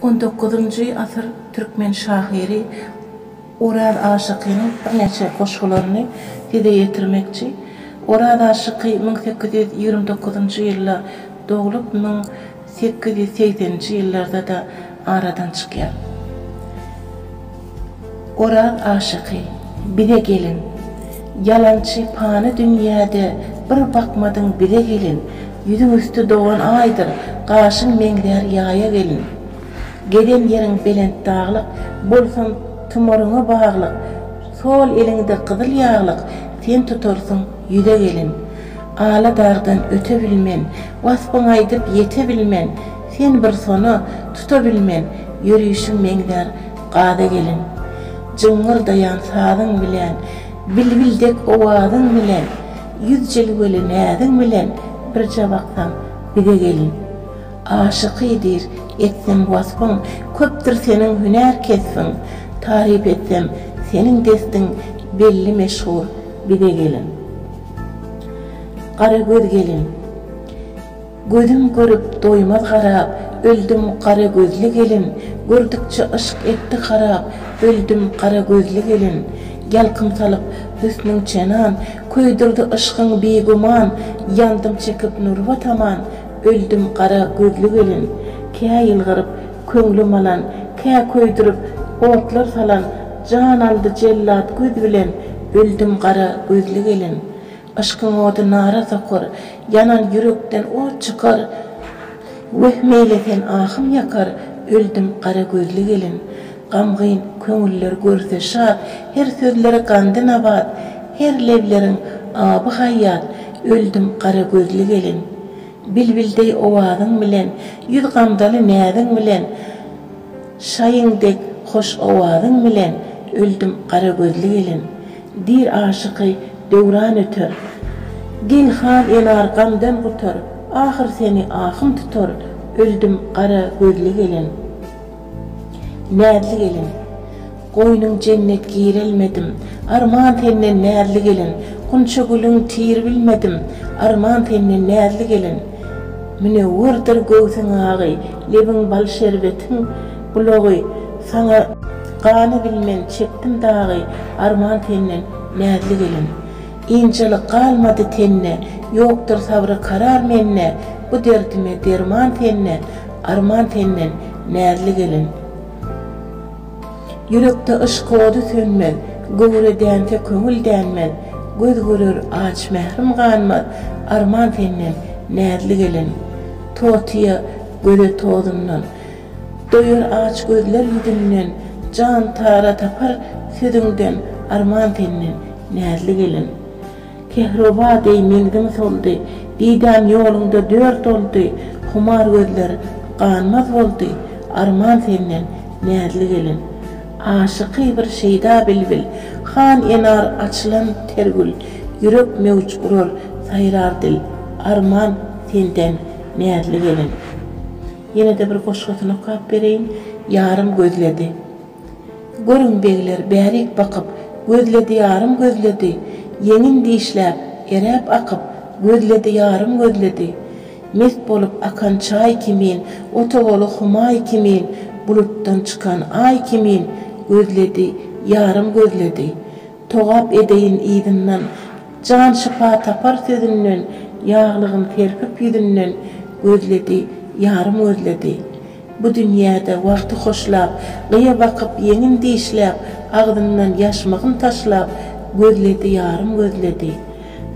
On dokuzynjy asyr türkmen şahyry Oraz aşykynyň birnäçe goşgularyny size ýetirmekçi. Oraz aşyky müň sekiz ýüz ýigrimi dokuzynjy ýylda doglup, müň sekiz ýüz segseninji ýyllarda-da aradan çykýar. Oran aşyky, bize gelin. Ýalançy pany dünýäde bir bakmadyň bize gelin Ýüzüň üsti dogan aýdyr, gaşyň meňzär ýaýa gelin. Gezen ýeriň belent daglyk, bolsun tumaryňa baglyk Sol eliňde gyzyl ýaglyk, sen tutarsyň ýüze gelin. Ala dagdan öte bilmen, waspyň aýdyp ýete bilmen, Sen bir sona, tuta bilmen, ýörüşiň meňzär gaza gelin. Jyňňyrdaýan sazyň bilen, bilbil dek owazyň bilen, ýüz jilweli näziň bilen birje baksaň bize gelin. Aşyky diýr etsem wasbyň, köpdür seniň hünär kesbiň, taryp etsem seniň destiň belli meşhur bize gelin. Gara göz gelin. Gözüm görüp doýmaz garap, öldüm gara gözli gelin, Gördükçe yşk etdi harap, öldüm gara gözli gelin. Ýalkym salyp hüsnüň çenan, köýdürdi yşkyň bigüman, Ýandym çekip nurba taman, öldüm gara gözli gelin. Kä ýylgyryp köňlüm alan, kä köýdürip otlar salan, Jan aldy jellat göz bilen, öldüm gara gözli gelin. Yşkyň ody nara sokar, ýanan ýürekden ot çykar, Weh, meýletin ahym ýakar, öldüm gara gözli gelin. Gamgyn köňüller görse şat, her sözleri gandy nabat, Her lebleriň aby haýýat, öldüm gara gözli gelin. Bilbil deý owazyň bilen, ýüz gamzaly näziň bilen, Şaýyň dek hoş owazyň bilen öldüm gara gözli gelin, Diýr aşyky döwran öter. Gel han enar gamdan gutar, ahyr seni ahym tutar, öldüm gara gözli gelin. Näzli gelin. Goýnuň jennet girelmedim, Arman senden näzli gelin, Gunça gülüň tir bilmedim, Arman senden näzli gelin. Münewwürdir göwsüň agy, Lebiň bal şerbetiň bulagy, Saňa gany bilmen çekdim dagy, Arman senden näzli gelin. Ynjalyk galmady tende, Ýokdur sabry karar mende, Bu derdime derman sende, Arman senden näzli gelin. Ýürekde yşk ody sönmez, Göwre dänse köňül dänmez, Göz görer aç mährim ganmaz, Arman senden, näzli gelin. Totyýa göze tozundan, Doýar aç gözler ýüzünden, Jan tara tapar sözüňden, Arman senden, näzli gelin. Kehroba deý menzim soldy. Didäm ýoluňda dört oldy. Humar gözler ganmaz boldy. Arman senden, näzli gelin. Aşyky bir şeýda bilbil. Han enar açylan ter gül. Ýürek möwç urar, saýrar dil. Arman senden, näzli gelin. Ýene-de bir goşgusyny okap bereýin. Ýarym gözledi. Görüň, begler bärik bakyp, Gözledi ýarym gözledi, Ýeňin dişläp, eräp akyp, Gözledi ýarym gözledi. Mest bolup akan çaý kimin, Otowaly Humaý kimin, Bulutdan çykan Aý kimin, Gözledi, ýarym gözledi. Togap edeýin yzyndan, Jan şypa tapar sözünden, Ýaglygyn serpip ýüzünden, Gözledi, ýarym gözledi. Bu dünýäde wagty hoşlap, Gyýa bakyp, ýeňin dişläp, Agzyndan ýaşmygyn taşlap, Gözledi ýarym gözledi.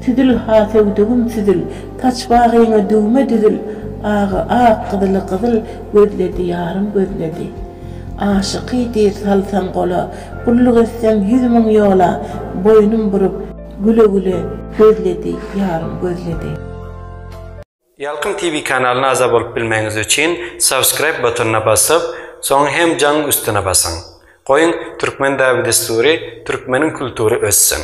Süzül, ha söwdügim süzül, Saç bagyňa düwme düzül, Agy ak, gyzyly gyzyl, Gözledi ýarym gözledi. Aşyky diýr salsaň gola, Gulluk etseň ýüz müň ýola, Boýnum burup, güle-güle, Gözledi ýarym gözledi. Ýalkym TV kanalyna agza bolup bilmegiňiz üçin subscribe butonyna basyp, soň hem jaň üstüne basyň. Goýuň Türkmen däbi-dessury, Türkmeniň kultury össün!